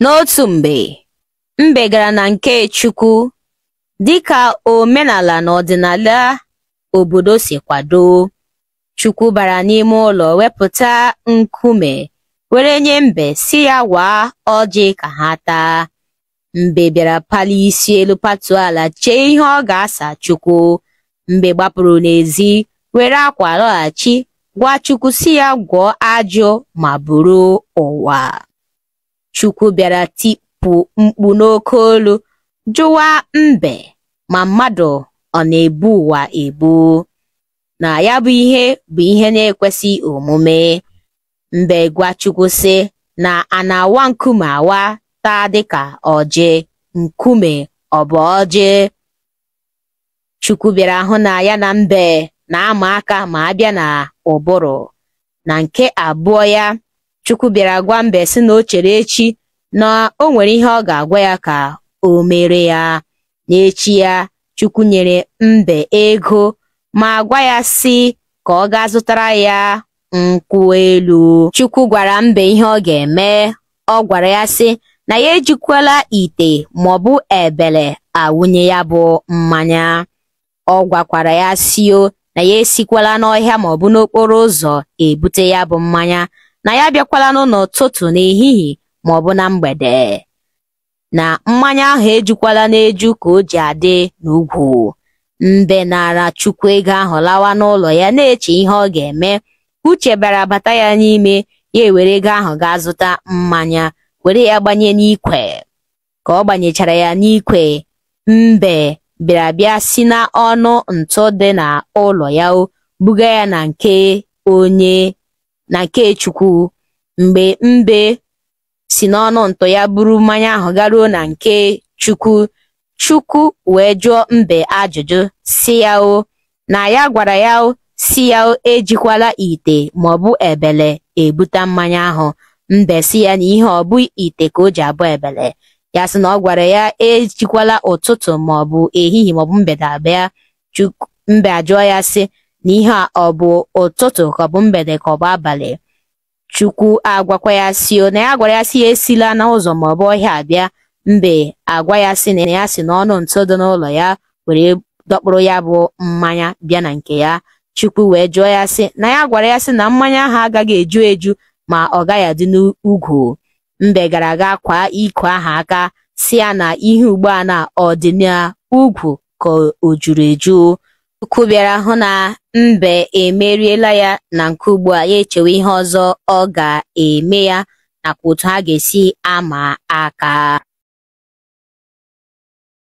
N'otu mgbe, mbe gara na nke Chukwu dịka omenala na ọdịnala obodo si kwado. Chukwu bara n'ime ụlọ wepụta nkume were nye mbe sị ya waa ọjị ka ha taa. Mbe bịara palie isi elu patuo ala chee ihe ọ ga-asa Chukwu. Mbe gbapụrụ n'ezi were akwa lọghachi gwa Chukwu sị ya gwọọ ajụ ma buru ụwa. Chukwu bịara tipụ mkpu n'oke olu jụwa mbe ma mmadụ ọ na-ebu ụwa ebu na ya bụ ihe bụ ihe na-ekwesị omume mbe gwa Chukwu sị na a na-awa nkume awa taa dịka ọjị nkume ọ bụ ọjị Chukwu bịara hụ na ya na mbe na-ama aka ma abịa na ụbụrụ na nke abụọ ya Chukwu bịara gwa mbe sị na o chere echi na o nwere ihe ọ ga-agwa ya ka o mere ya N'echi ya, Chukwu nyere mbe ego ma gwa ya sị ka ọ gaa zụtara ya nkwụ elu. Chukwu gwara mbe ihe ọ ga-eme. Ọ gwara ya sị na ya ejikwala ite maọbụ ebele awụnye ya bụ mmanya. Ọ gwakwara ya sị o na ya esikwala n'ọhịa maọbụ n'okporo ụzọ ebute ya bụ mmanya na ya abịakwala n'ụlọ ụtụtụ n'ehihie maọbụ na mgbede. na mmanya ahụ ejukwala n'eju ka o ji adị n'ugwu mbe nara chukwu ego ahụ lawa n'ụlọ ya na-eche ihe ọ ga-eme uche bịara bata ya n'ime ya ewere ego ahụ gaa zụta mmanya were ya gbanye n'ikwe ka ọ gbanyechara ya n'ikwe mbe bịara bịa si na ọnụ ntụ dị na ụlọ ya buga ya na nke onye na nke chukwu mgbe mbe si n'ọnụ ntụ ya buru mmanya ahụ garuo na nke Chukwu Chukwu wee jụọ mbe ajụjụ sị ya o na ya gwara ya sị ya ejikwala ite maọbụ ebele ebuta mmanya ahụ mbe sị ya na ihe a ọ bụ ite ka o ji abụ ebele ya sị na ọ gwara ya ejikwala ụtụtụ maọbụ ehihie maọbụ mgbede abịa mbe ajụọ ya sị na ihe a ọ bụ ụtụtụ ka ọ bụ mgbede ka ọ bụ abalị Chukwu agwakwa ya sị o na ya gwara ya sị ya esila na ụzọ ma ọ bụ ọhịa abịa mbe agwa ya sị na ya si n'ọnụ ntụ dị n'ụlọ ya were dọkpụrụ ya bụ mmanya bịa na nke ya Chukwu wee jụọ ya sị na ya gwara ya sị na mmanya ahụ agaghị eju eju ma ọ gaghị adị n'ugwu mbe gara aga kwaa ikwe ahụ aka sị ya na ihe ugbu a na ọ dị n'ugwu ka o juru eju Chukwu bịara hụ na mbe emeriela ya na nke ugbu a ya echewe ihe ọzọ ọ ga-eme ya nakwa otu ha ga-esi ama aka